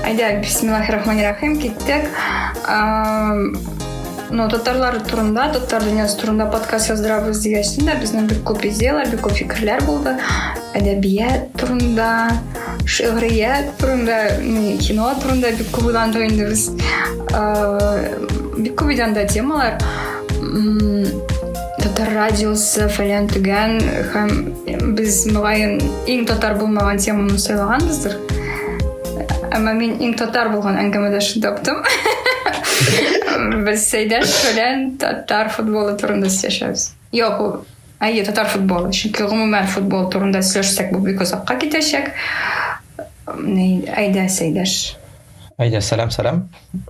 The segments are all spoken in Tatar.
Әйдә, бисмиллахи рахмани рахим, киттек. Ну, татарлар турында, татар дөньясы турында подкаст яздырабыз дигәчтен дә безнең бик күп идеялар, бик күп фикерләр булды. Әдәбият турында, шигърият турында, кино турында бик күп уйландык инде без. Бик күп идәндә темалар. татар радиосы фәлән түгән һәм без мөгаен иң татар булмаган теманы сайлаганбыздыр әмма мин иң татар булган әңгәмәдәшне таптым без сәйдәш белән татар футболы турында сөйләшәбез юк ул әйе татар футболы чөнки гомумән футбол турында сөйләшсәк бу бик озакка китәчәк әйдә сәйдәш әйдә сәлам сәлам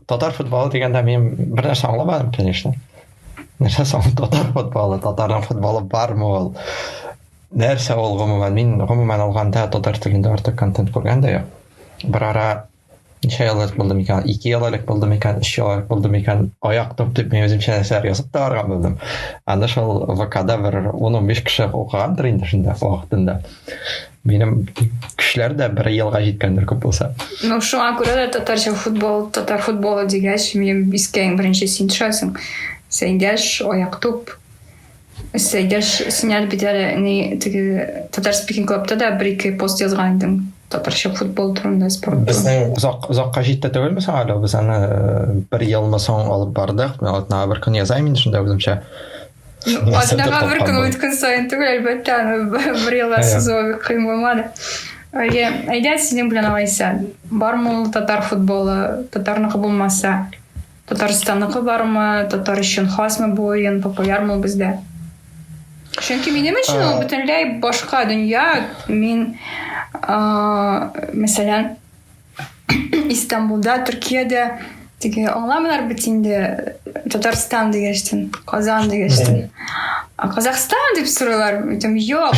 татар футболы дигәндә мин бер нәрсә аңламадым конечно нәрсә соң татар футболы татарның футболы бармы ул нәрсә ул гомумән мин гомумән алганда татар телендә артык контент күргән дә юк бер ара ничә ел элек булды микән ике ел элек булды микән өч ел элек булды микән аяк топ дип мин үземчә нәрсәләр язып та барган булдым аны шул вкда бер он он биш кеше укыгандыр инде шунда вакытында Минем кешеләр дә бер елга җиткәндер күп булса. Ну, шуңа күрә дә татарча футбол, татар футболы дигәч, минем искә иң беренче син төшәсең. Сәйдәш, аяк туп. Сәйдәш, син әле бит әле ни теге татар спикинг клубта да бер ике пост язган идең татарча футбол турында спорт безнең озак озакка җитте түгелме соң әле без аны э, бер елмы соң алып бардык мен атнага бер көн язайм инде шунда үземчә Атнаға бер көн үткен сайын түгел, әлбәттә, бер елда сызуы кыйм булмады. Әйе, әйдә сезнең белән алайса. Бармы ул татар футболы, татарныкы булмаса? Татарстанныкы бармы, татар өчен хасмы бу уен, популярмы бездә? Чөнки минем өчен ул бөтенләй башка дөнья. Мин, мәсәлән, Истанбулда, Төркиядә теге аңламыйлар бит инде Татарстан дигәчтен, Казан дигәчтен. Казахстан дип сорыйлар, әйтәм, юк.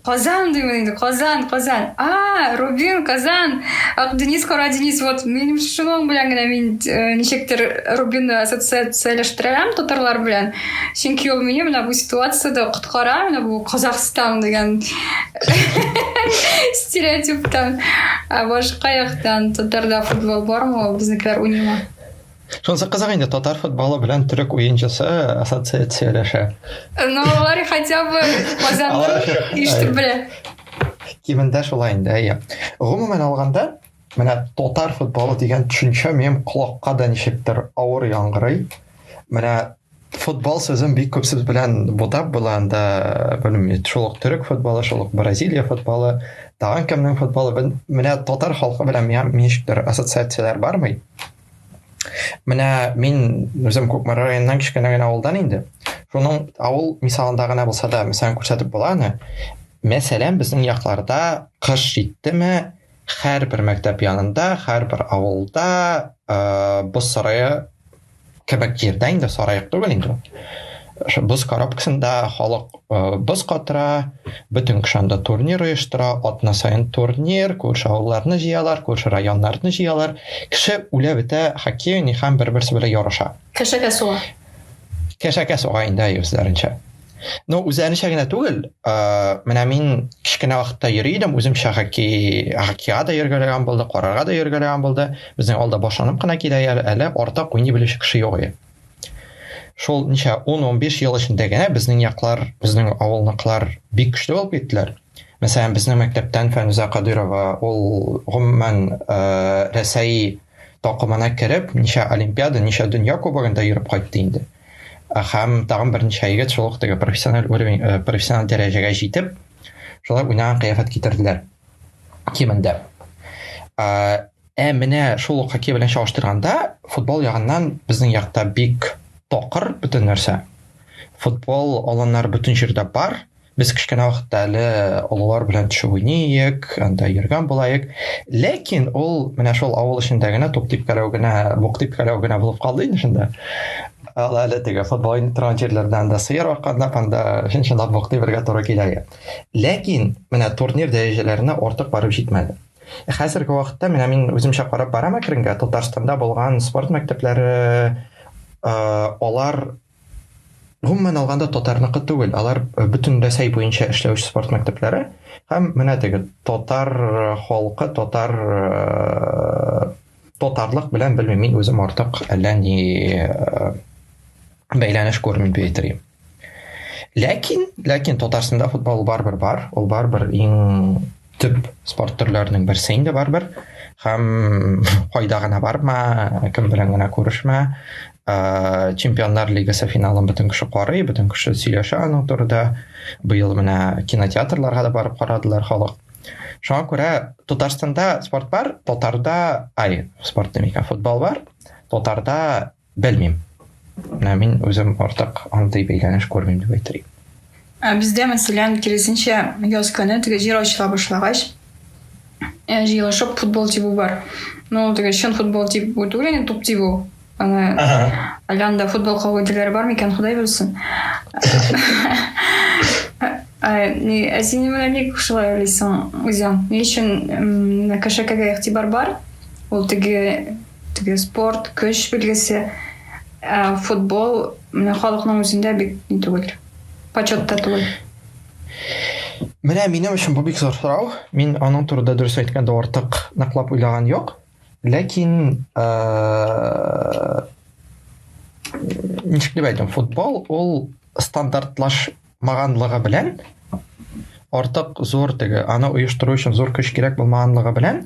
Казан димин инде, Казан, Казан. А, Рубин, Казан. Ак Денис, Кара Денис, вот минем шуның белән генә мин э, ничектер Рубинны ассоциацияләштерәм татарлар белән. Чөнки ул мине менә бу ситуацияда коткара, менә бу Казахстан дигән стереотиптан ә башка яктан татарда футбол бармы ул безнекеләр уйныймы шунысы кызык инде татар футболы белән төрек уенчысы ассоциацияләшә ну алар хотя бы казанның ишетеп белә кимендә шулай инде әйе гомумән алганда Менә татар футболы дигән төшенчә минем колакка да ничектер авыр яңгырый. Менә футбол сүзен бик күп сүз белән бутап була анда, белмим, шул ук төрек футболы, шул ук Бразилия футболы, тагын кемнең футболы, менә татар халкы белән миңа ничектер ассоциацияләр бармый. Менә мин үзем Кукмара районыннан кечкенә генә авылдан инде. Шуның авыл мисалында гына булса да, мәсәлән, күрсәтеп була аны. Мәсәлән, безнең якларда кыш җиттеме, Һәрбер мәктәп янында, һәрбер авылда боз сарае кебек җирдә инде сарайык түгел инде ул боз коробкасында халык боз катыра бөтен кеше анда турнир оештыра атна саен турнир күрше авылларны җыялар күрше районнарны җыялар кеше үлә бетә хоккей уйный һәм бер берсе белән ярыша кәшәкә суга кәшәкә суга инде үзләренчә Ну, үзе әнешә генә түгел. Ә, менә мин кечкенә вакытта йөри идем, үземчә хаки, хакига да йөргәләгән булды, карарга да йөргәләгән булды. Безнең алда башланып кына килә әле, артык уйный белүче кеше юк иде. Шул ничә 10-15 ел эчендә генә безнең яклар, безнең авылныкылар бик көчле булып киттеләр. Мәсәлән, безнең мәктәптән Фәнүзә Кадырова, ул гомумән ә, Рәсәй такымына кереп, ничә олимпиада, ничә дөнья кубогында йөреп кайтты инде. Һәм тагын берничә егет шул ук теге профессиональ уровень, э, профессиональ дәрәҗәгә җитеп, шулай уйнаган кыяфәт китерделәр. Кимендә. Ә, ә менә шул ук хоккей белән чагыштырганда, футбол ягыннан безнең якта бик токыр бөтен нәрсә. Футбол аланнары бөтен җирдә бар, Без кечкенә вакытта әле олылар белән төшеп уйныйык, анда йөргән булаек. Ләкин ул менә шул авыл эчендә генә туп типкәләү генә, бук типкәләү генә булып калды инде шунда. Ала әле теге футбол уйный торган җирләрдән дә сыер арканда анда чынлап бук тибергә туры килә. Ләкин менә турнир дәрәҗәләренә артык барып җитмәде. Хәзерге вакытта менә мин үземчә карап барам әкренге Татарстанда булган спорт мәктәпләре алар Гомумән алганда татарныкы түгел, алар бөтен Рәсәй буенча эшләүче спорт мәктәпләре һәм менә теге татар халкы, татар татарлык белән белмим, мин үзем артык әллә ни бәйләнеш күрмим дип әйтер Ләкин, ләкин Татарстанда футбол барбер бар, ул барбер иң төп спорт төрләренең берсе инде барыбер һәм кайда гына барма кем белән генә күрешмә ә, чемпионнар лигасы финалын бөтен кеше карый бөтен кеше сөйләшә аның турында быел менә кинотеатрларга да барып карадылар халык шуңа күрә татарстанда спорт бар татарда ай спорт демик футбол бар татарда Белмим. Менә мин үзем артык андый бәйләнеш күрмим дип әйтер идем. Ә бездә, мәсәлән, киресенчә, яз көне теге җир ачыла башлагач, э, җыелышып футбол тибу бар. Ну, ул теге чын футбол тибу түгел, инде туп тибу. Аны әллә анда футбол кагыйдәләре бармы икән, Ходай белсен. Ә син менә ник шулай уйлыйсың үзең? Ни өчен кешекәгә игътибар бар? Ул теге Теге спорт, көч билгесе, ә футбол менә халыкның үзендә бик ни түгел, почетта түгел. Менә минем өчен бу бик зур сорау. Мин аның турында дөрес әйткәндә артык ныклап уйлаган юк. Ләкин ничек дип әйтим, футбол ул стандартлаш булмаганлыгы белән артык зур теге аны оештыру өчен зур көч кирәк булмаганлыгы белән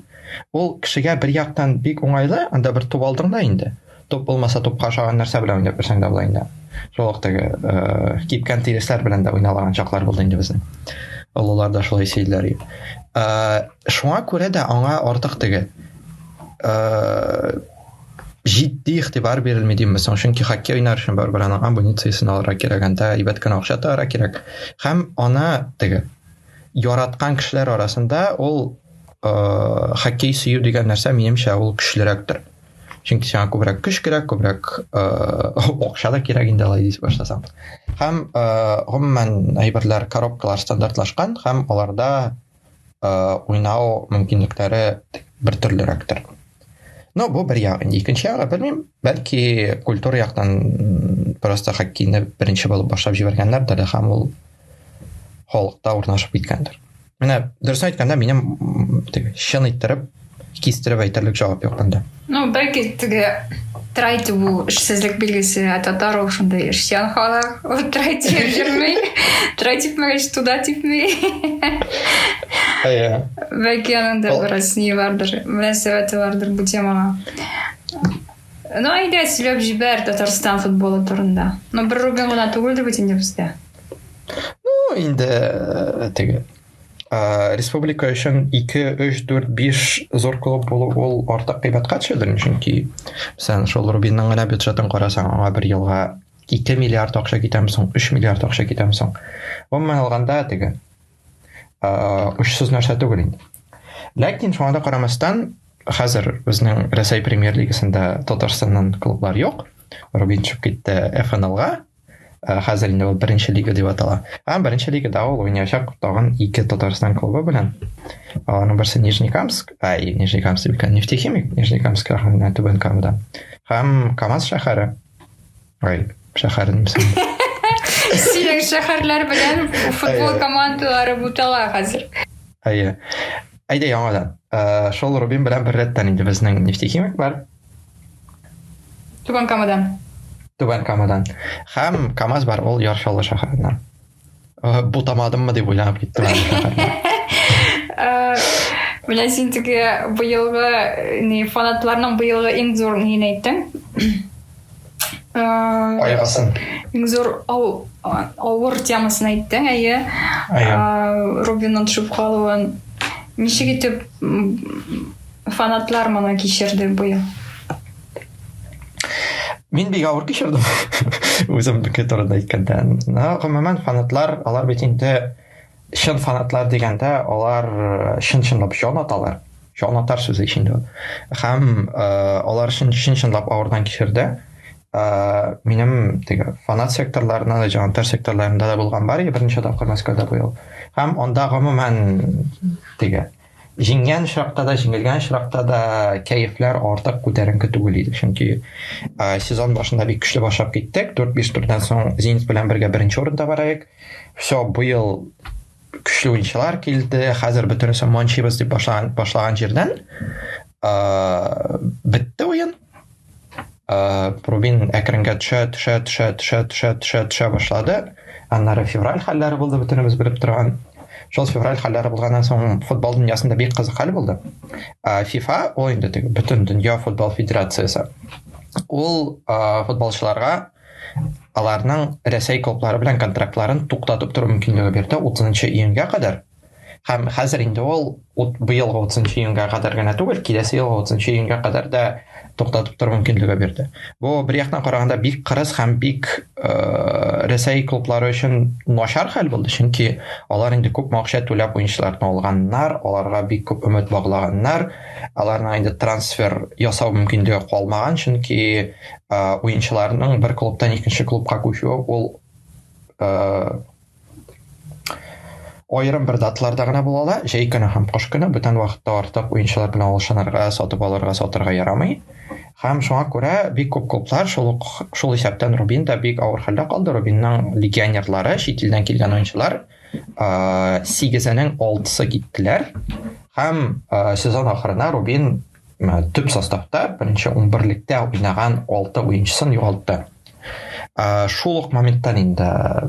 ул кешегә бер яктан бик уңайлы анда бер туп алдың да инде туп булмаса тупка ошаган нәрсә белән уйнап берсең дә болай инде шул ук теге э, кипкән тиресләр белән дә уйналаган чаклар булды инде безнең олылар да шулай сөйлиләр э, шуңа күрә дә аңа артык теге э, җитди игътибар бирелми дим мисал чөнки хоккей уйнар өчен барыбер аның амунициясен алырга кирәк анда әйбәт кенә акча тагырга кирәк һәм аны теге яраткан кешеләр арасында ул э, хоккей сөю дигән нәрсә минемчә ул көчлерәктер чөнки сиңа күбрәк көч кирәк күбрәк акча да кирәк инде алай дис башласаң һәм гомумән әйберләр коробкалар стандартлашкан һәм аларда э, уйнау мөмкинлекләре бер төрлерәктер. Но бу бер ягы. Икенче ягы белмим, бәлки культура яктан просто хоккейны беренче булып башлап җибәргәннәрдер һәм ул халыкта урнашып киткәндер. Менә дөрес әйткәндә, минем чын иттереп Кистереп әйтерлек җавап юк монда. Ну, бәлки теге трайте бу эшсезлек билгесе, ә татар ул шунда эшчән халык. Ул трайте йөрми. Трайте мәгәш туда типми. Әйе. Бәлки аның да бераз ни бардыр, мөнәсәбәте бардыр бу темага. Ну, әйдә, сөйләп җибәр Татарстан футболы турында. Ну, бер рубин гына түгелдер бит инде бездә. Ну, инде э, теге ә, республика өчен 2, 3, 4, 5 зур клуб булу ул артык кыйбатка төшәдер, чөнки сән шул Рубинның гына бюджетын карасаң, аңа бер елга 2 миллиард акча китәм соң, 3 миллиард акча китәм соң. Гомумән алганда теге ә, учсыз нәрсә түгел инде. Ләкин шуңа да карамастан, хәзер безнең Рәсәй премьер-лигасында Татарстаннан клублар юк. Рубин төшеп китте ФНЛга, Э, хәзер инде ул беренче лига дип атала. Һәм беренче лигада ул уйнаячак тагын ике Татарстан клубы белән. Аларның берсе Нижнекамск, ай, Нижнекамск дип кенә Нефтехимик, Нижнекамск районында Түбән Камада. Һәм Камаз шәһәре. Ай, шәһәре немсен. Сирек шәһәрләр белән футбол командалары бутала хәзер. Әйе. Әйдә яңадан. Э, шул Рубин белән бер рәттән инде безнең Нефтехимик бар. Түбән Камадан. Түбән Камадан. Һәм КАМАЗ бар, ул Яршалы шәһәреннән. Э, Бутамадыммы дип уйланып киттем. Э, менә син теге быелгы э, не фанатларның быелгы иң зур нин әйттең? Кайгысын. Иң зур авыр темасын әйттең, әйе. Рубинның төшеп калуын. Ничек итеп Фанатлар моны кичерде бу ел. Мин бик авыр кичердем. Үзем бөке турында әйткәндә. Гомумән фанатлар, алар бит инде чын фанатлар дигәндә, алар э, чын-чынлап җан аталар. Җан атар сүзе ичендә. Һәм э, алар чын-чынлап авырдан кичерде. Э, минем теге фанат секторларына да, җан атар секторларында да булган бар, беренче тапкыр Мәскәүдә бу ел. Һәм анда гомумән теге Җиңгән очракта да, җиңелгән очракта да кәефләр артык күтәренке түгел иде. Чөнки сезон башында бик көчле башлап киттек. 4-5 турдан соң Зенит белән бергә беренче урында бар идек. Все, быел көчле уенчылар килде. Хәзер бөтенесе манчибыз дип башлаган, башлаган җирдән бетте уен. Э, рубин әкренге төшә төшә төшә төшә төшә төшә төшә башлады аннары февраль хәлләре булды бөтенебез белеп торган шул февраль хәлләре булганнан соң футбол дөньясында бик кызык хәл булды ә фифа ул инде теге бөтен дөнья футбол федерациясе ул ә, футболчыларга аларның рәсәй клублары белән контрактларын туктатып тору мөмкинлеге бирде 30 июньгә кадәр Һәм хәзер инде ул быелгы 30 июньгә кадәр генә түгел, киләсе елгы 30 июньгә кадәр дә туктатып тору мөмкинлеге бирде. Бу бер яктан караганда бик кырыс һәм бик э, Рәсәй клублары өчен начар хәл булды, чөнки алар инде күп акча түләп уенчыларны алганнар, аларга бик күп өмет баглаганнар. Аларның инде трансфер ясау мөмкинлеге калмаган, чөнки э, уенчыларның бер клубтан икенче клубка күчүе ул э, Аерым бер даталарда гына була ала, җәй көне һәм кыш көне бүтән вакытта артык уенчылар белән алышынырга, сатып алырга, сатырга ярамый. Һәм шуңа күрә бик күп клублар, шул ук шул исәптән Рубин да бик авыр хәлдә калды. Рубинның легионерлары, чит илдән килгән уенчылар, сигезенең алтысы киттеләр. Һәм сезон ахырына Рубин ә, төп составта беренче унберлектә уйнаган алты уенчысын югалтты ә, шул ук моменттан инде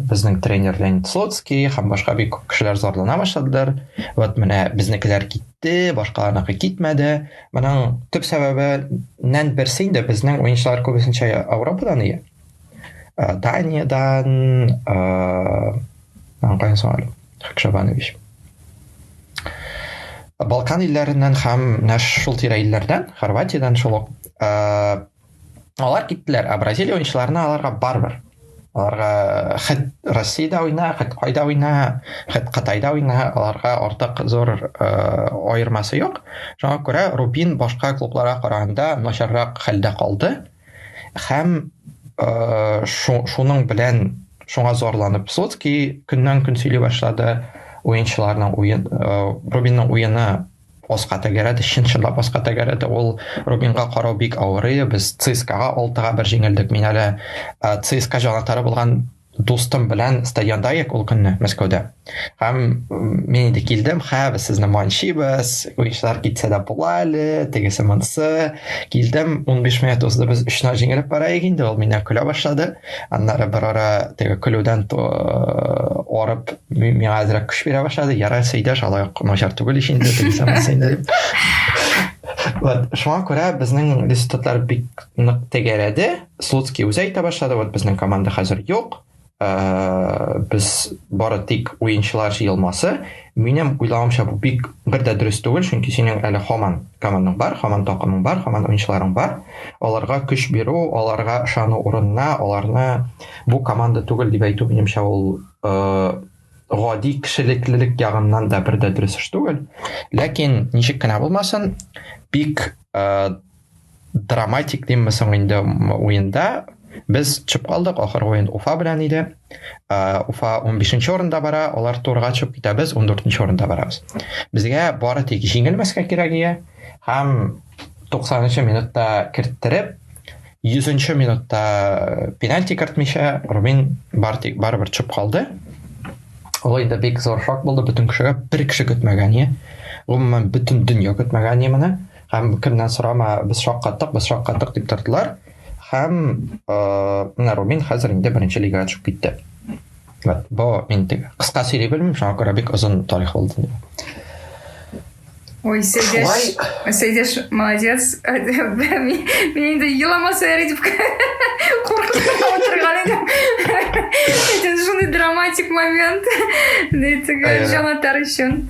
безнең тренер леонид слоцкий һәм башка бик күп кешеләр зарлана башладылар вот менә безнекеләр китте башкаларныкы китмәде моның төп сәбәбеннән берсе инде безнең уенчылар күбесенчә европадан ия ә, даниядан ә, Хакшабанович. Балкан илләреннән һәм менә шул тирә илләрдән, Хорватиядән шул ук. Алар киттеләр, ә Бразилия уенчыларына аларга барбер. Аларга хәт Россиядә уйна, хәт кайда уйна, хәт Кытайда уйна, аларга артык зур аермасы юк. Шуңа күрә Рубин башка клубларга караганда начаррак хәлдә калды. Һәм э, шуның белән шуңа зарланып Слоцки көннән көн сөйли башлады уенчыларның уен э, Робинның уены аска тәгәрәде чын чынлап аска тәгәрәде ул Робинга карау бик авырый без ЦСКАга алтыга бер җиңелдек мин әле э, ЦСКА җанатары булган Дустым белән стадионда идек ул көнне Мәскәүдә. Һәм мин инде килдем, хә, без сезне манчибез, уенчылар китсә дә була әле, тегесе монысы. Килдем, 15 минут узды, без 3-0 җиңелеп бара идек инде, ул миннән көлә башлады. Аннары бер ара теге көлүдән арып, миңа әзрәк көч бирә башлады. Яра сөйдәш, алай начар түгел ич инде, тегесе монысы инде. Вот, шуңа күрә безнең результатлар бик нык тәгәрәде. Слуцкий үзе әйтә башлады, вот безнең команда хәзер юк, ә, без бары тик уенчылар җыелмасы. Минем уйлавымча бу бик бер дә дөрес түгел, чөнки синең әле хаман командаң бар, хаман такымың бар, хаман уенчыларың бар. Аларга көч бирү, аларга ышану урынына, аларны бу команда түгел дип әйтү минемчә ул ә, гади кешелеклелек ягыннан да бер дә дөрес эш түгел. Ләкин ничек кенә булмасын, бик ә, драматик димме соң инде уенда без төшеп калдык ахыргы уен уфа белән иде уфа 15 орында бара алар турга төшеп китәбез 14 орында барабыз безгә бары тик җиңелмәскә кирәк иде һәм 90 минутта керттереп 100 минутта э, пенальти кертмичә рубин бар тик барыбер төшеп калды ул инде бик зур шок булды бөтен кешегә бер кеше көтмәгән гомумән бөтен дөнья көтмәгән моны һәм кемнән сорама без шаккаттык без шаккаттык дип тордылар һәм э, менә рубин хәзер инде беренче лигага төшеп китте вот бу инде кыска сөйли белмим шуңа күрә бик озын тарих булды Ой, Сәйдәш, Сәйдәш, молодец. Мин инде еламаса яри дип куркып отырган идем. Әйтен шундый драматик момент. Дийтеге җанатар өчен.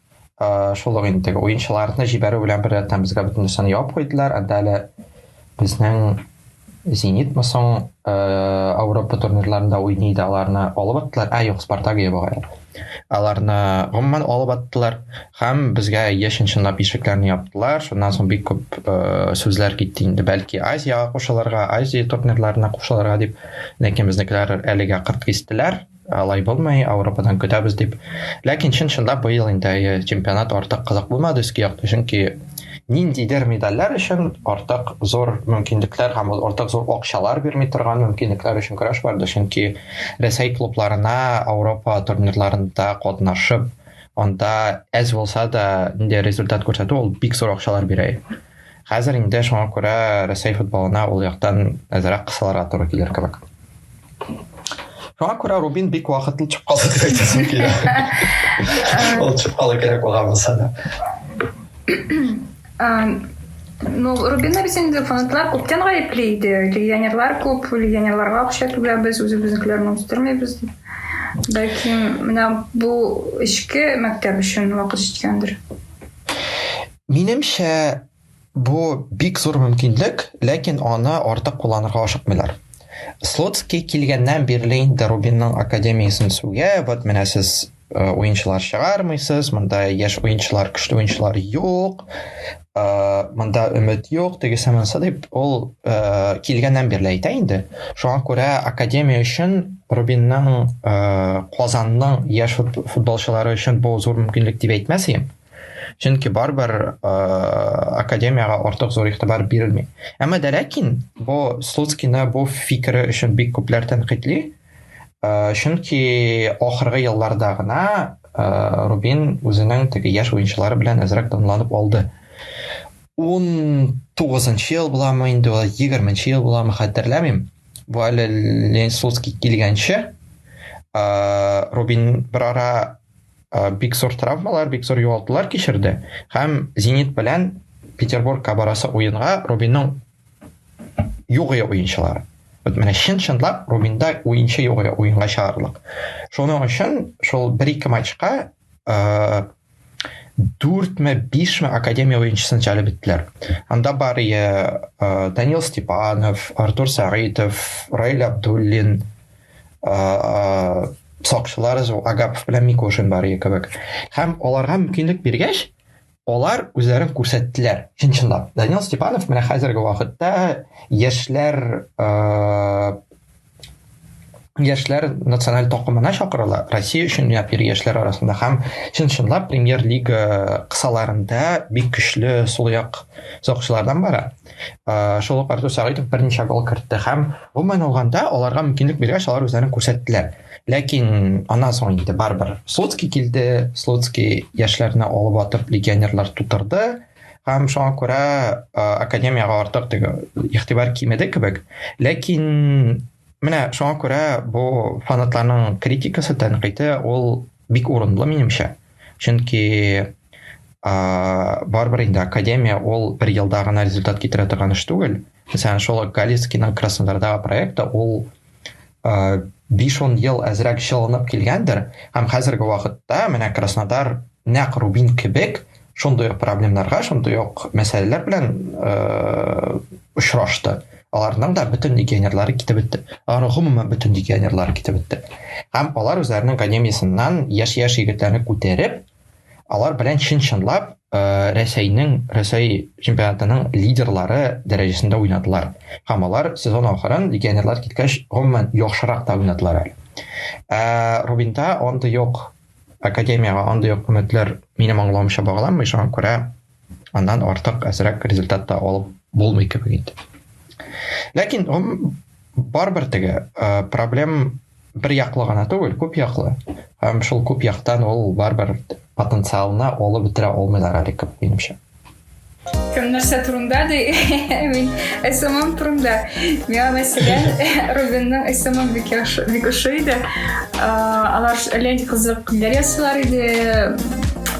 Э, шул ук инде теге уенчыларны җибәрү белән беррәттән безгә бөтен нәрсәне ябып куйдылар анда әле безнең зенитмы соң э, ауропа турнирларында уйный иде аларны алып аттылар ә юк спартак ебагайлар аларны гомумән алып аттылар һәм безгә яшен чынлап ишекләрне яптылар шуннан соң бик күп э, сүзләр китте инде бәлки азияга кушылырга азия турнирларына кушылырга дип ләкин безнекеләр әлегә кырт кистеләр алай булмый, Ауропадан көтәбез дип. Ләкин чын чынлап быел инде э, чемпионат артык кызык булмады өске якта, чөнки ниндидер медальләр өчен артык зур мөмкинлекләр һәм артык зур акчалар бирми торган мөмкинлекләр өчен көрәш барды, чөнки Рәсәй клубларына Ауропа турнирларында катнашып, анда әз булса да инде результат күрсәтү ул бик зур акчалар бирә. Хәзер инде шуңа күрә Рәсәй футболына ул яктан әзрәк кысылырга туры килер кебек. Шуңа күрә Рубин бик вакытлы чыгып калды дип әйтәсем килә. Ул чыгып калу кирәк булган булса да. Ну, Рубинны без инде фанатлар күптән гаепли иде. Легионерлар күп, легионерларга акча түләбез, үзебезнекеләрне үстермибез дип. Бәлки, менә бу эчке мәктәп өчен вакыт җиткәндер. Минемчә, бу бик зур мөмкинлек, ләкин аны артык кулланырга ашыкмыйлар. Слуцкий килгәннән бирле инде Рубинның академиясен сүгә, вот менә сез уенчылар чыгармыйсыз, монда яшь уенчылар, көчле уенчылар юк, монда өмет юк, тегесе монсы дип ул килгәннән бирле әйтә инде. Шуңа күрә академия өчен Рубинның Казанның яшь футболчылары өчен бу зур мөмкинлек дип әйтмәс идем. чөнки барыбер э, академиягә артык зур игътибар бирелми әмма дә ләкин бу слуцкийны бу фикере өчен бик күпләр тәнкыйтьли э, чөнки ахыргы елларда гына э, рубин үзенең теге яшь уенчылары белән әзрәк тынланып алды ун тугызынчы ел буламы инде ул егерменче ел буламы хәтерләмим бу әле ленин слуцкий килгәнче рубин бер ара Э, бик зур травмалар, бик зур югалтулар кичерде һәм Зенит белән Петербургка барасы уенга Рубинның югыя уенчылары. Вот менә чын чынлап Рубинда уенчы югыя уенга чыгарлык. Шуның өчен шул бер ике матчка э, дүртме бишме академия уенчысын җәлеп иттеләр анда бар э, данил степанов артур сәгыйтов раил абдуллин сакчылар агапов белән микошин бар иде кебек һәм аларга мөмкинлек биргәч алар үзләрен күрсәттеләр чын чынлап данил степанов менә хәзерге вакытта яшьләр яшьләр националь токымына чакырыла россия өчен уйнап йөри яшьләр арасында һәм чын чынлап премьер лига кысаларында бик көчле сулаяк сакчылардан бара Э, шул ук Артур Сәгыйтов берничә гол кертте һәм гомумән алганда аларга мөмкинлек биргәч алар үзләрен күрсәттеләр. Ләкин аннан соң инде барыбер Слуцкий килде, Слуцкий яшьләрне алып атып легионерлар тутырды һәм шуңа күрә э, академиягә артык теге игътибар кимеде кебек. Ләкин менә шуңа күрә бу фанатларның критикасы, тәнкыйте ул бик урынлы минемчә. чөнки барыбер инде академия ул бер елда гына результат китерә торган эш түгел мәсәлән шул галицкийның краснодардағы проекты ул биш он ел әзрәк чылынып килгәндер һәм хәзерге вакытта менә краснодар нәкъ рубин кебек шундый ук проблемнарга шундый ук мәсьәләләр белән очрашты Аларның да бөтен легионерлары китеп бетте. Алар гомумән бөтен легионерлары китеп бетте. Һәм алар үзләренең академиясеннән яшь-яшь егетләрне күтәреп, алар белән чын-чынлап э, Рәсәйнең Рәсәй чемпионатының лидерлары дәрәҗәсендә уйнадылар. Һәм алар сезон ахырын легионерлар киткәч, гомумән яхшырак та уйнадылар әле. Ә Рубинда андый юк академиягә андый юк өметләр минем аңлавымча багланмый, шуңа күрә аннан артык әзрәк результат та алып булмый кебек инде ләкин барыбер теге проблем бер яклы гына түгел күп яклы һәм шул күп яктан ул барыбер потенциалына алып бетерә алмыйлар әле күп минемчә кем нәрсә турында ди мин смм турында миңа мәсәлән рубинның смм бик яхшы бик ошый иде алар әллә нинди кызык күңелләр ясыйлар иде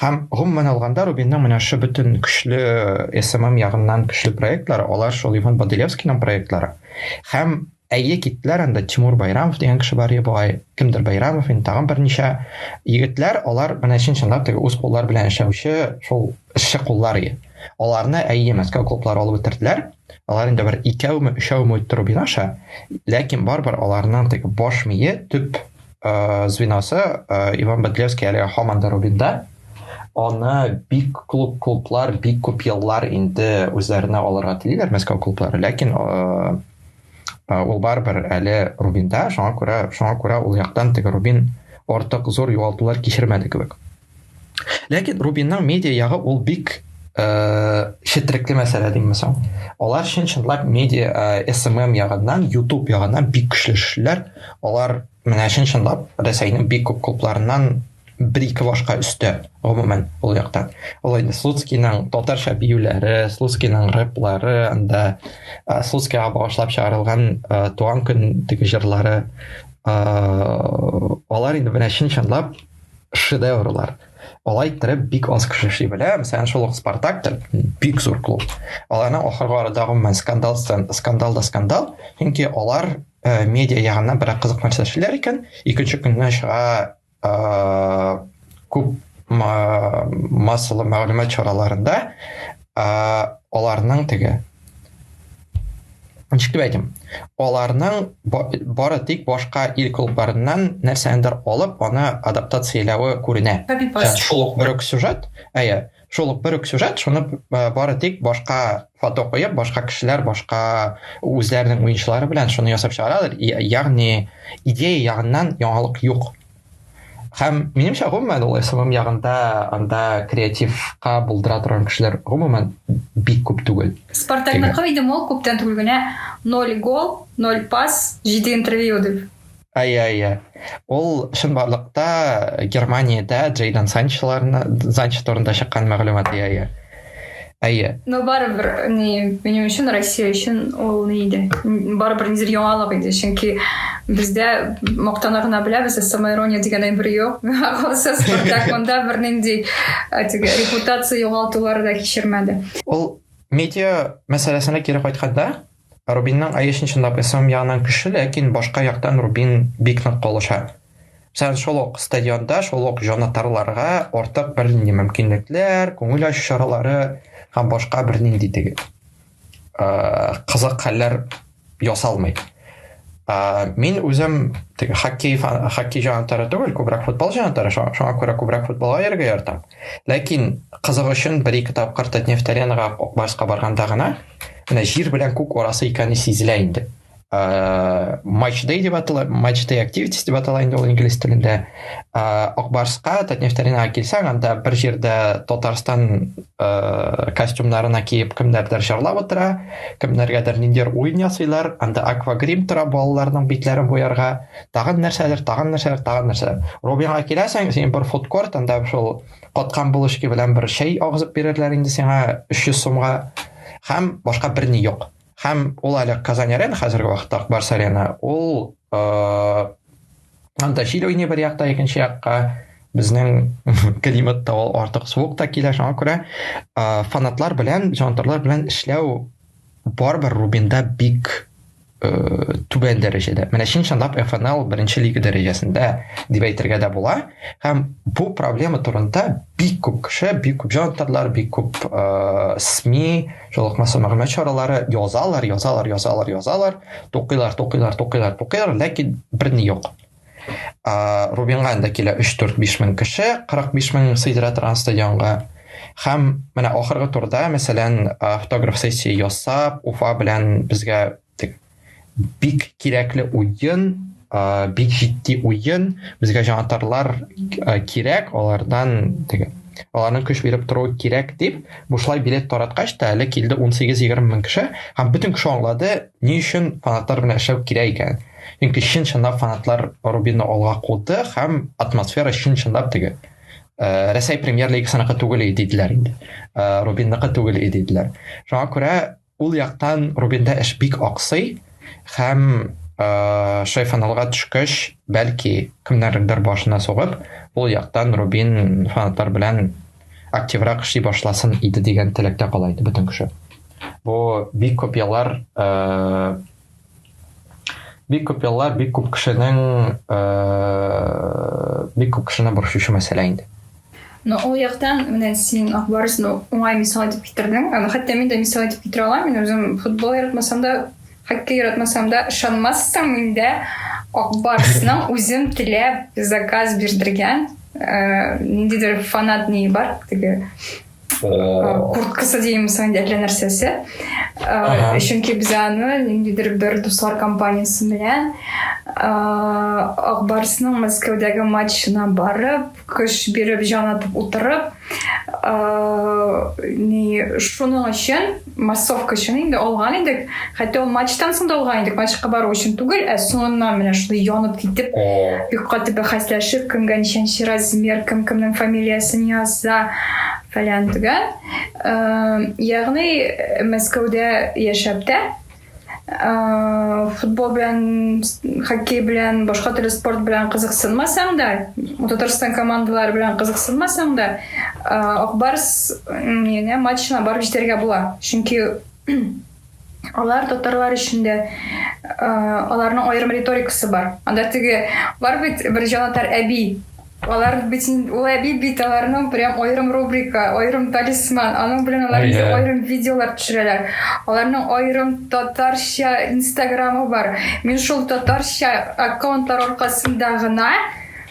Һәм гомумән алганда Рубинның менә шул бөтен көчле СММ ягыннан көчле проектлары, алар шул Иван Боделевскийның проектлары. Һәм әйе киттеләр анда Тимур Байрамов дигән кеше бар бугай, кемдер Байрамов, инде тагын берничә егетләр, алар менә чын чынлап теге үз куллары белән эшләүче шул эшче куллар ие. Аларны әйе Мәскәү клублары алып бетерделәр. Алар инде бер икәүме, өчәүме үтте Рубин аша, ләкин барыбер аларның теге баш мие, төп ә, звеносы ә, иван бадлевский әле һаман да рубинда аны бик клуб клублар бик күп еллар инде үзләренә алырга телиләр мәскәү клублары ләкин ә, ә, ул барыбер әле рубинда шуңа күрә шуңа күрә ул яктан теге рубин артык зур югалтулар кичермәде кебек Ләкин Рубинның медиа ягы ул бик четрекле э, мәсьәлә дим мисал. Алар чын чынлап медиа э, SMM ягыннан, YouTube ягыннан бик көчле эшләр. Алар менә чын чынлап Рәсәйнең бик күп клубларыннан бер-ике башка өстә, гомумән, ул яктан. Ул инде Слуцкийның татарча биюләре, Слуцкийның рэплары, анда э, Слуцкийга багышлап чыгарылган туган көн диге җырлары, алар инде менә чын чынлап шедеврлар. Алай иттереп бик аз кеше эшли белә. Мәсәлән, шул ук Спартак та бик зур клуб. Аларның ахыргы арада гомумән скандал скандал да скандал, чөнки алар э, медиа ягыннан берәк кызык нәрсә эшлиләр икән, икенче көнне чыга э, күп массалы мәгълүмат чараларында э, аларның теге Ничек әйтим? Аларның бары тик башка ил клубларыннан нәрсәндер алып, аны адаптацияләве күренә. Шул ук бер үк сюжет, әйе, шул ук бер үк сюжет, шуны бары тик башка фото куеп, башка кешеләр, башка үзләренең уенчылары белән шуны ясап чыгаралар. Ягъни идея ягыннан яңалык юк. Һәм минемчә гомумән ул СММ ягында анда креативка булдыра торган кешеләр гомумән бик күп түгел. Спартакныкы идем ул күптән түгел генә 0 гол, 0 пас, 7 интервью дип. Ая, ая. Ул чынбарлыкта Германиядә Джейден Санчоларны Санчо турында чыккан мәгълүмат ия, ия. Әйе. Но барыбер ни минем өчен Россия өчен ул ни иде? Барыбер нидер яңалык иде, чөнки бездә мактана гына беләбез, самоирония дигән әйбер юк. Калса Спартак монда бернинди теге репутация югалтулары да кичермәде. Ул медиа мәсьәләсенә кире кайтканда, Рубинның ISIN чынлап ислам ягыннан көчле, ләкин башка яктан Рубин бик нык калыша. Мәсәлән, шул ук стадионда, шул ук җанатарларга артык бернинди мөмкинлекләр, күңел ачу чаралары һәм башка бернинди теге кызык хәлләр ясалмый. Мин үзем теге хоккей хоккей җанатары түгел, күбрәк футбол җанатары, шуңа күрә күбрәк футболга йөрергә яратам. Ләкин кызык өчен бер-ике тапкыр Татнефть-Аренага, Акбарска барганда гына менә җир белән күк арасы икәне сизелә инде ә, матч дей деп атала матч дей активитис деп атала инде ул инглиз телендә ә, акбарсқа татнефтаринага килсәң анда бер җирдә татарстан ә, костюмнарына киеп кемнәрдер жырлап утыра кемнәргәдер ниндидер уен ясыйлар анда аквагрим тора балаларның битләрен буярга тагын нәрсәдер тагын нәрсәдер тагын нәрсәдер робинга киләсең син бер фудкорт анда шул каткан булочки белән бер чәй агызып бирерләр инде сиңа 300 сумга һәм башка берни юк һәм ул әле казан арена хәзерге вакытта акбарс арена ул э, анда җил уйный бер якта икенче якка безнең климат та ул артык суык та килә шуңа күрә э, фанатлар белән җантарлар белән эшләү барыбер рубинда бик э, түбән дәрәҗәдә. Менә чын чынлап FNL беренче лига дәрәҗәсендә дип әйтергә дә була. Һәм бу проблема турында бик күп кеше, бик күп җанатарлар, бик күп э, СМИ, жолыкмасы мәгълүмат чаралары язалар, язалар, язалар, язалар, тукыйлар, тукыйлар, тукыйлар, тукыйлар, ләкин берни юк. Ә, Рубинга инде килә 3-4-5 мең кеше, 45 мең сыйдыра торган стадионга. Һәм менә ахыргы турда, мәсәлән, автограф сессия ясап, Уфа белән безгә бик кирәкле уен, бик җитди уен, безгә җанатарлар кирәк, алардан теге аларның көч биреп торуы кирәк дип, бушлай билет тараткач та әле килде 18-20 мең кеше, һәм бөтен кеше аңлады, ни өчен фанатлар белән эшләү кирәк икән. Чөнки чын-чынлап фанатлар Рубинны алга куды һәм атмосфера чын-чынлап теге э, Рәсәй премьер лигасыныкы түгел иде диделәр инде. Э, Рубинныкы түгел иде диделәр. Шуңа күрә ул яктан Рубинда эш бик аксый һәм э, шай фаналга төшкәч, бәлки кемнәрнеңдер башына сугып, ул яктан Рубин фанатлар белән активрак эшли башласын иде дигән теләктә кала иде бөтен кеше. Бу бик күп еллар э, бик күп еллар бик күп кешенең э, бик күп кешене борчучы мәсьәлә инде но ул яктан менә син ак барысны уңай мисал итеп китердең аны хәтта мин дә мисал итеп китерә алам мин үзем футбол яратмасам да хоккей яратмасам да ышанмассың миндә ак барысның үзем теләп заказ бирдергән э, ниндидер фанат нее бар теге курткасы дейміз анда әллә нәрсәсе чөнки без аны ниндидер бер дуслар компаниясе белән ак барсның мәскәүдәге матчына барып көч биреп җан атып утырып шуның өчен массовка өчен инде алган идек. Хәтта ул матчтан соң да алган идек. Матчка бару өчен түгел, ә соңыннан менә шундый янып китеп, бик каты бәхәсләшеп, кемгә ничәнче размер, кем кемнең фамилиясен яза, фәлән төгән. Ягъни Мәскәүдә яшәп тә, футбол белән, хоккей белән, башка төрле спорт белән кызыксынмасаң да, Татарстан командалары белән кызыксынмасаң да, Акбарс менә матчына барып җитәргә була. Чөнки алар татарлар өчен дә аларның аерым риторикасы бар. Анда теге бар бит бер җанатар әби Алар бит ул әби бит аларның прям аерым рубрика, аерым талисман. Аның белән алар инде аерым видеолар төшерәләр. Аларның аерым татарча инстаграмы бар. Мин шул татарча аккаунтлар аркасында гына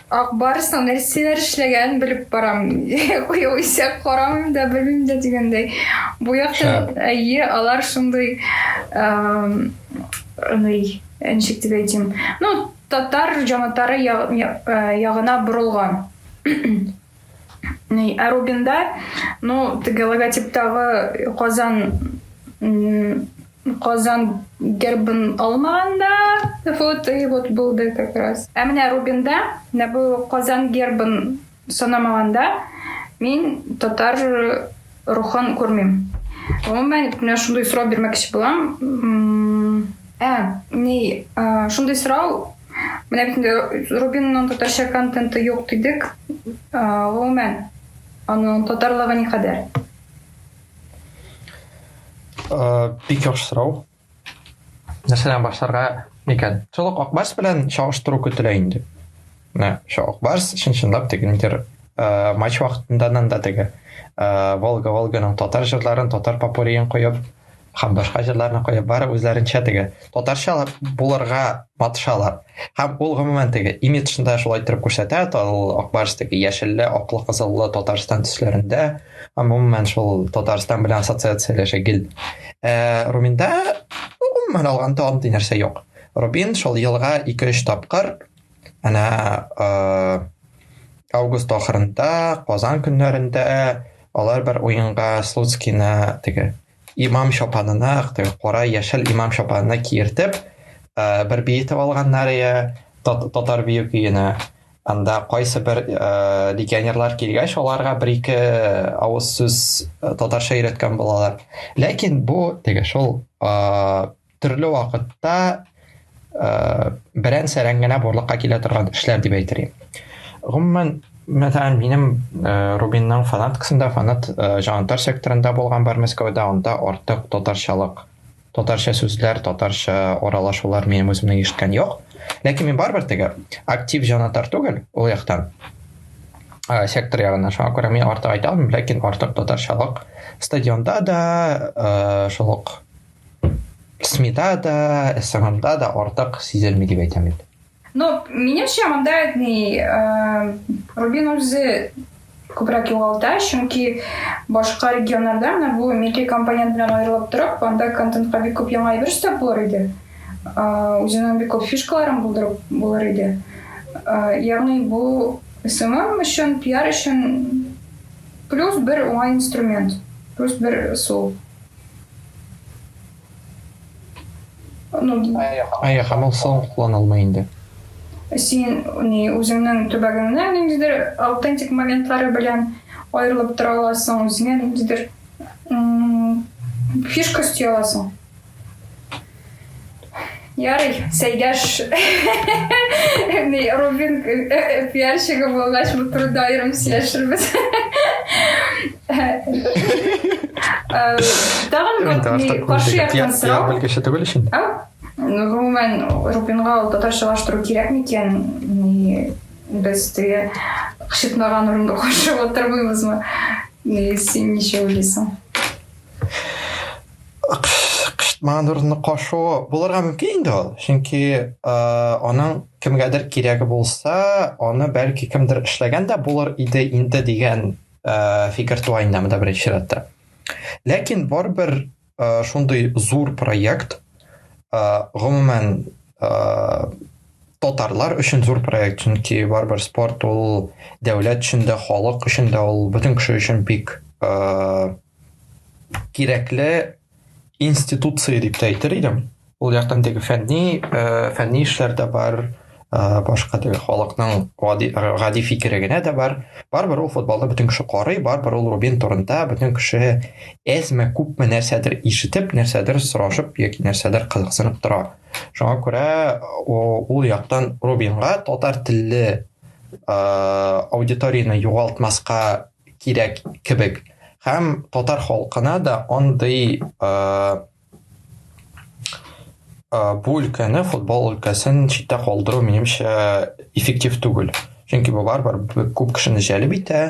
Акбарсның нәрсәләр эшләгәнен белеп барам. Югыйсә карамыйм да, белмим дә дигәндәй. Бу якта әйе, алар шундый, аны ничек дип әйтим. Ну, Татар җанатары ягына борылган. Ә Рубинда, ну, теге логотиптагы Казан Казан гербын алмаган да, вот и вот булды как раз. Ә менә Рубинда менә бу Казан гербын Санамаганда, мин татар рухын күрмим. Гомумән, менә шундый сорау бирмәкче булам. Ә, ни, шундый сорау, менә бит инде Рубинның татарча контенты юк дидек. Гомумән, аның татарлыгы никадәр? Бик яхшы сорау. Нәрсәдән башларга микән? Шул ук Акбарс белән чагыштыру көтелә инде. Менә шул Акбарс чын-чынлап теге нидер э, матч вакытынданан да теге э, Волга Волганың татар җырларын, татар попуриен куеп, һәм башка җырларны куеп, бары үзләренчә теге татарча булырга матышалар. Һәм ул гомумән теге имиджында шулай торып күрсәтә, ул Акбарс теге яшелле, аклы, кызыллы Татарстан төсләрендә, гомумән шул татарстан белән ассоциацияләшә гел ә руминда гомумән алганда андый нәрсә юк рубин шул елга ике өч тапкыр әнә август ахырында казан көннәрендә алар бер уенга слуцкийны теге имам чапанына кара яшел имам чапанына киертеп ә, бер бии итеп алганнар иә татар бию көенә анда кайсы бер ә, легионерлар килгәч аларга бер ике авыз сүз татарча өйрәткән булалар ләкин бу теге шул ә, төрле вакытта ә, берән сәрән генә барлыкка килә торган эшләр дип әйтер идем гомумән мәсәлән минем ә, рубинның фанаткасында фанат ә, җанатар секторында булган бар мәскәүдә анда артык татарчалык татарча сүзләр татарча аралашулар минем үземне ишеткән юк ләкин мин барыбер теге актив җанатар түгел ул яктан ә, сектор ягыннан шуңа күрә мин артык айта алмыйм ләкин артык татарчалык стадионда да ә, шул ук СМИда да, СММда да артык сизелми дип әйтәм инде. Ну, минемчә монда әйтми, Рубин үзе күбрәк югалта, чөнки башка регионнарда менә бу милки компонент белән аерылып торып, анда контентка бик күп яңа әйбер өстәп булыр иде. Үзенең бик күп фишкаларын булдырып булыр иде. Ягъни бу СММ өчен, пиар өчен плюс бер уңай инструмент, плюс бер сул. Әйе, һәм ул соң куллана алмый инде. Син ни үзеңнең төбәгеңнең ниндидер аутентик моментлары белән аерылып тора аласың, үзеңә ниндидер фишка өсти аласың. Ярый, Сәйдәш не Рубин пиарщигы булгач, бу турыда аерым сөйләшербез. Тагын бер каршы яктан сорау. Пиар белгече түгел өчен. Ну, гомумән, Рубинга ул татарчалаштыру кирәк микән? Без теге кычытмаган урында каршы отырмыйбызмы? Син ничә уйлыйсың? кычытмаган урынны кашуы булырга мөмкин инде ул чөнки аның кемгәдер кирәге булса аны бәлки кемдер эшләгән дә булыр иде инде дигән фикер туа инде монда беренче чиратта ләкин барыбер шундый зур проект гомумән татарлар өчен зур проект чөнки барыбер спорт ул дәүләт өчен дә халык өчен дә ул бөтен кеше өчен бик кирәкле институция дип тә әйтер идем. Ул яктан теге фәнни, э, фәнни эшләр дә бар, э, башка теге халыкның гади, гади фикере генә дә бар. Барыбер ул футболны бөтен кеше карый, барыбер ул Рубин турында бөтен кеше әзме күпме нәрсәдер ишетеп, нәрсәдер сорашып яки нәрсәдер кызыксынып тора. Шуңа күрә ул яктан Рубинга татар телле э, аудиторияне югалтмаска кирәк кебек. Һәм татар халкына да андый бу өлкәне футбол өлкәсен читтә калдыру минемчә эффектив түгел чөнки бу барыбер күп кешене җәлеп итә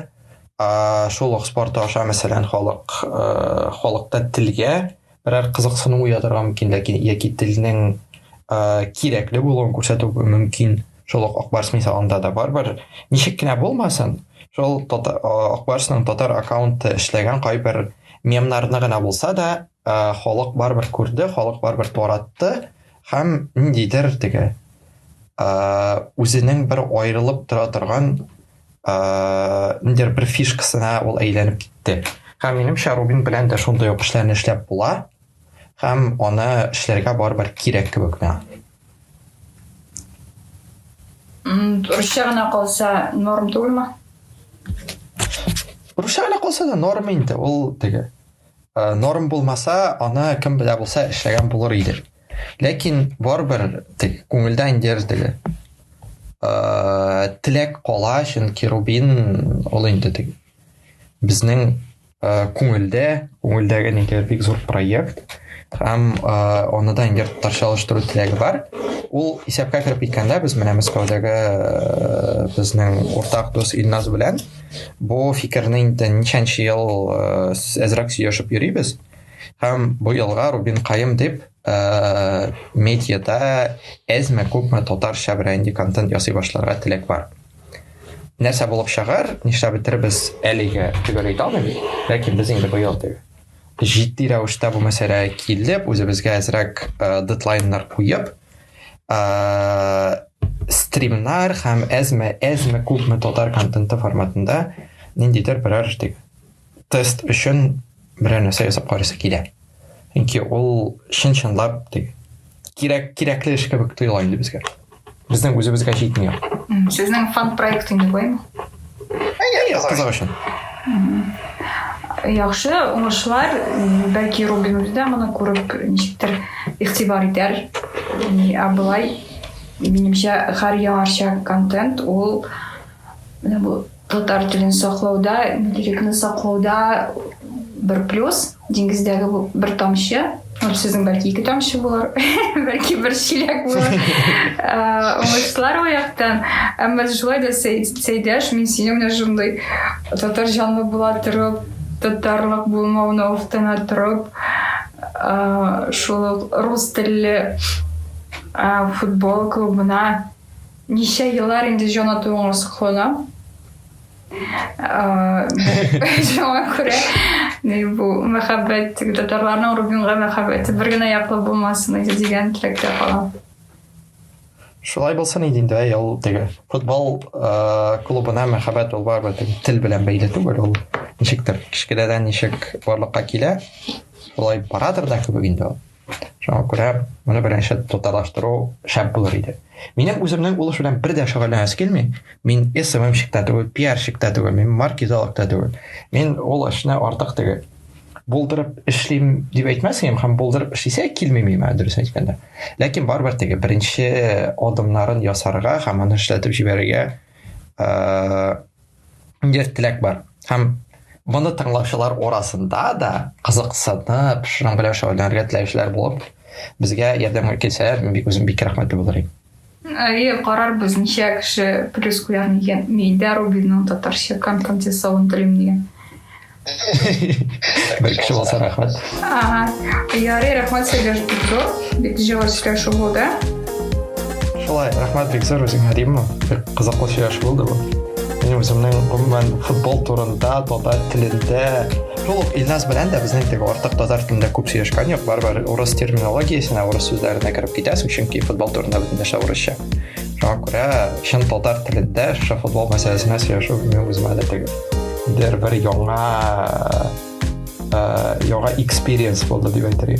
шул ук спорт аша мәсәлән халык халыкта телгә берәр кызыксыну уятырга мөмкин, ләкин яки телнең кирәкле булуын күрсәтү мөмкин. Шул ук Акбарс мисалында да барыбер ничек кенә булмасын, шул Акбарсның татар аккаунты эшләгән кайбер мемнарны гына булса да, халык барыбер күрде, халык барыбер таратты һәм ниндидер теге үзенең бер аерылып тора торган ә, ниндер бер фишкасына ул әйләнеп китте һәм минемчә рубин белән дә шундый ук эшләрне эшләп була һәм аны эшләргә барыбер кирәк кебек миңа русча гына калса норм түгелме русча гына калса да норм инде ул теге ә, норм булмаса аны кем белә булса эшләгән булыр иде Ләкин барыбер тик күңелдә инде теге теләк кала, чөнки Рубин ул инде тик безнең күңелдә, күңелдәге нигә бик зур проект һәм аны да инде татарча алыштыру теләге бар. Ул исәпкә кереп киткәндә без менә Мәскәүдәге безнең уртак дус Илназ белән бу фикерне инде ничәнче ел әзрәк сөйләшеп йөрибез. Ә, Һәм бу елга Рубин Каем дип медиада әзме күпме татарча бренди контент ясый башларга теләк бар. Нәрсә булып чыгар, нишләп бетербез әлегә төгәл әйтә алмыйм, ләкин без инде быел дип җитди рәвештә бу мәсьәлә килеп, үзебезгә әзрәк дедлайннар куеп, стримнар һәм әзме әзме күпме татар контенты форматында ниндидер берәр тест өчен берәр нәрсә ясап карыйсы килә. Чөнки ул чын-чынлап дип кирәк кирәкле эш кебек тоела инде безгә. Безнең үзебезгә җитми. Сезнең фан проект инде буймы? Әйе, кызык өчен. Яхшы, уңышлар. Бәлки Рубин үзе дә моны күреп ничектер игътибар итәр. Ә болай минемчә һәр яңарча контент ул менә бу Татар телен саклауда, интеллектны саклауда бер плюс, диңгездәге бу бер тамчы, һәм сезнең бәлки ике тамчы булыр, бәлки бер чиләк булыр. Уңышлар ул яктан. Әмма шулай да Сәйдәш, мин сине менә шундый татар җанлы була торып, татарлык булмавына уфтана торып, шул рус телле футбол клубына Ничә еллар инде җанатуыңа сокланам. Шуңа күрә бу мәхәббәт татарларның Рубинга мәхәббәте бер генә яклы булмасын иде дигән теләктә калам. Шулай булсын иде инде, әй, ул теге футбол клубына мәхәббәт ул барыбер теге тел белән бәйле түгел, ул ничектер кечкенәдән ничек барлыкка килә, шулай барадыр да кебек инде ул. Шуңа күрә моны беренче татарлаштыру шәп булыр иде. Минем үземнең ул эш белән бер дә шөгыльләнәс килми. Мин СММщик та түгел, пиарщик та түгел, мин маркетолог та түгел. Мин ул эшне артык теге булдырып эшлим дип әйтмәс идем, һәм булдырып эшлисә килми миңа дөрес әйткәндә. Ләкин барыбер теге беренче адымнарын ясарга һәм аны эшләтеп җибәрергә бер теләк бар. Һәм моны тыңлаучылар арасында да кызыксынып, шуның белән шөгыльләнергә теләүчеләр булып, безгә ярдәмгә килсәләр, мин бик үзем бик рәхмәтле булыр идем. Әйе, карарбыз, ничә кеше плюс куяр микән. Мин дә Рубинның татарча контент ясавын телим, дигән. Бер кеше булса рәхмәт. Ага. Ярый, рәхмәт сезгә бик зур. Бик җылы сөйләшү булды. Шулай, рәхмәт бик зур үзеңә Римма. Бик кызыклы сөйләшү булды бу. Мин үземнең гомумән футбол турында, татар телендә, шул ук Илназ белән дә безнең теге артык татар телендә күп сөйләшкән юк. Барыбер урыс терминологиясенә, урыс сүзләренә кереп китәсең, чөнки футбол турында бөтен нәрсә урысча. Шуңа күрә чын татар телендә шушы футбол мәсьәләсенә сөйләшү мин үземә дә түгел. Бер бер яңа яңа экспириенс булды дип әйтергә.